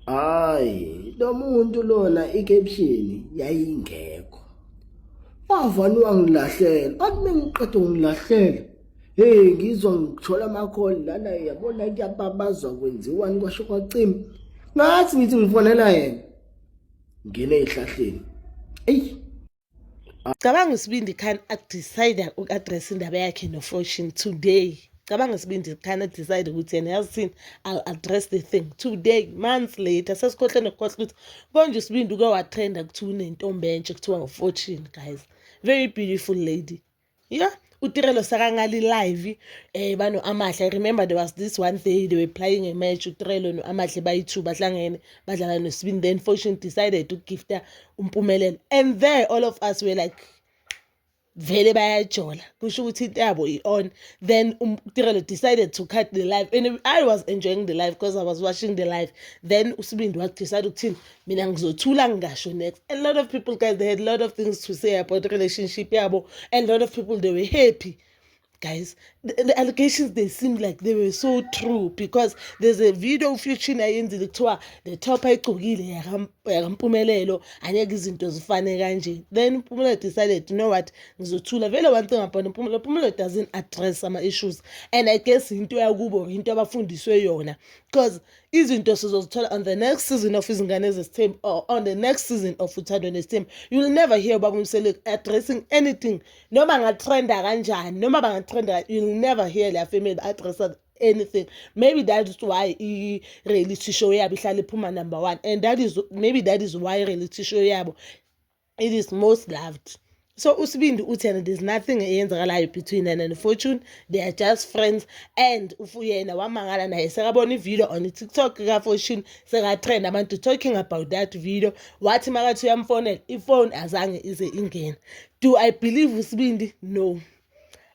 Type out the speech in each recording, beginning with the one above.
Hayi, lo muntu lona i-caption yayingekho. Wavani wangilahlela, athi mengiqeda ungilahlela. Hey, ngizwa ngithola amakholi lana yabona kuyababazwa kwenziwani kwasho kwacima. Ngathi ngithi ngifonela yena. Ngene ehlahleni. Eyi cabanga usibindi khan adecide uku-address indaba yakhe nofortune today cabanga isibindi khan adecide ukuthi yena yazi thini i'll address the thing today months later sesikhohle nokukhohle ukuthi konje usibindi uke watrenda kuthiwa unentombi entsha kuthiwa ufortune guys very beautiful lady Yeah, utirelo sakangali live eh bano amahle i remember there was this one day they were playing a match utirelo no-amahle bayi-two bahlangene badlala nosibini then fortune decided to gifta umpumelelo and there all of us were like vele bayajola kusho ukuthi into yabo i-on then utirelo um, decided to cut the life and i was enjoying the life because i was watching the life then usibindi wadecide ukuthini mina ngizothula ngingasho next a lot of people guys they had a lot of things to say about relationship yabo and a lot of people they were happy guys the, the allegations they seem like they were so true because there's a video future ayenzile kuthiwa the top ayigcokile yakampumelelo angeke izinto zifane kanje then mpumelelo decided you know what ngizothula vele one thing about mpumelelo mpumelelo doesn't address ama-issues and i guess into yakubo into abafundiswe yona because izinto sizozithola on the next season of izingane zesithembu or on the next season of uthando nesithembu you will never hear ubaba umseleku addressing anything noma ngatrenda kanjani noma bangatrenda you will never hear leya family addressa anything maybe that is why i-reality show yabo ihlale iphuma number one and that is maybe that is why i-reality show yabo it is most loved so usibindi uthi yena there's nothing eyenzakalayo between yena and fortune they are just friends and yena wamangala naye sekabona ivideo on itiktok kafortune sekatrend abantu talking about that video wathi makathi uyamfonela ifoni azange ize ingena do i believe usibindi no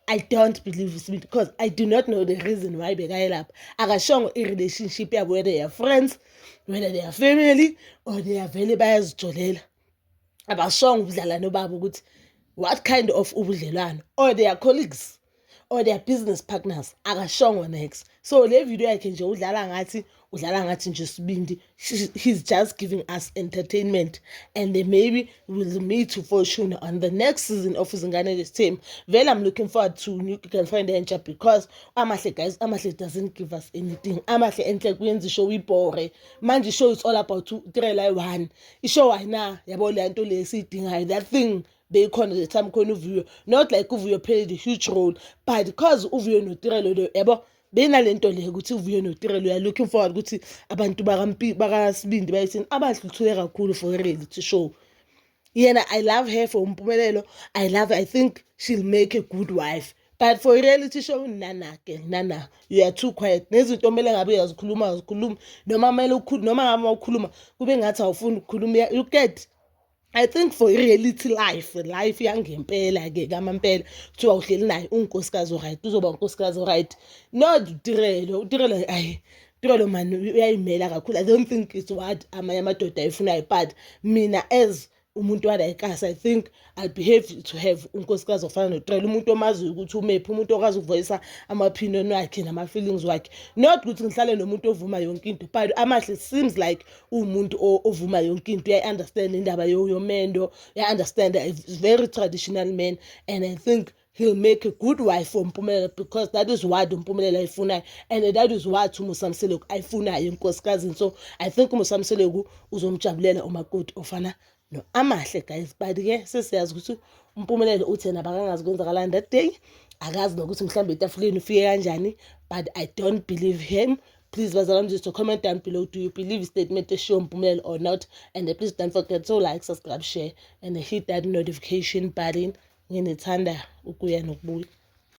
I don't believe uSibindi because I do not know the reason why bekayelapha akashongo i-relationship yabo whether they are friends whether they are family or they are vele bayazijolela abashongo ubudlalane babo ukuthi what kind of ubudlelwano or they are colleagues or their business partners akashongo next so le video yakhe nje udlala ngathi udlala ngathi nje sibindi he's just giving us entertainment and they maybe will meet ufortune on the next season of izingane this team vele i'm looking forward to new girlfriend entsha because amahle guys amahle doesn't give us anything amahle enhle kuyenza ishow ibhore manje ishow it's all about three line one ishow ayina yabo le nto le siyidingayo that thing beyikhona the time khona uvuyo not like uvuyo played a huge role but because uvuyo notirelo yabo benalento le ukuthi uvuye notirelo uya looking forward ukuthi abantu bakasibindi bayithini abahluthuke kakhulu for reality show yena i love her for umpumelelo i love her. i think she'll make a good wife but for reality show nana ke nana you are too quiet nezinto omele ngabe uyazikhuluma uzikhuluma noma mele ukhuluma noma ngabe ukhuluma kube ngathi awufuni ukukhuluma you get I think for i-reality life life yangempela-ke kamampela kuthiwa uhleli naye unkosikazi oright uzoba unkosikazi oright not utirelo utirelo ayi utirelo mani uyayimela kakhulu i don't think it's what amanye amadoda ayifunayo but mina as umuntu walayikasi i think i behave to have unkosikazi ofana notrela umuntu omaziyo ukuthi umephi umuntu okwazi ukuvoyisa ama-opinion wakhe nama-feelings wakhe not ukuthi ngihlale nomuntu ovuma yonke into but amahle seems like uwumuntu ovuma yonke into uyayi-understand indaba yomendo uya-understand a very traditional man and i think he'll make a good wife for mpumelelo because that is what umpumelelo ayifunayo and that is what umusamseleku ayifunayo enkosikazi so i think umusamseleku uzomjabulela umakoti ofana no amahle guys but ke sesiyazi ukuthi umpumelelo uthe nabakangazi kwenzakalani that day akazi nokuthi mhlawumbe etafuleni ufike kanjani but i don't believe him please bazalwane just to comment down below do you believe statement eshiwo mpumelelo or not and uh, please don't forget to like subscribe share and hit that notification button nginithanda ukuya nokubuya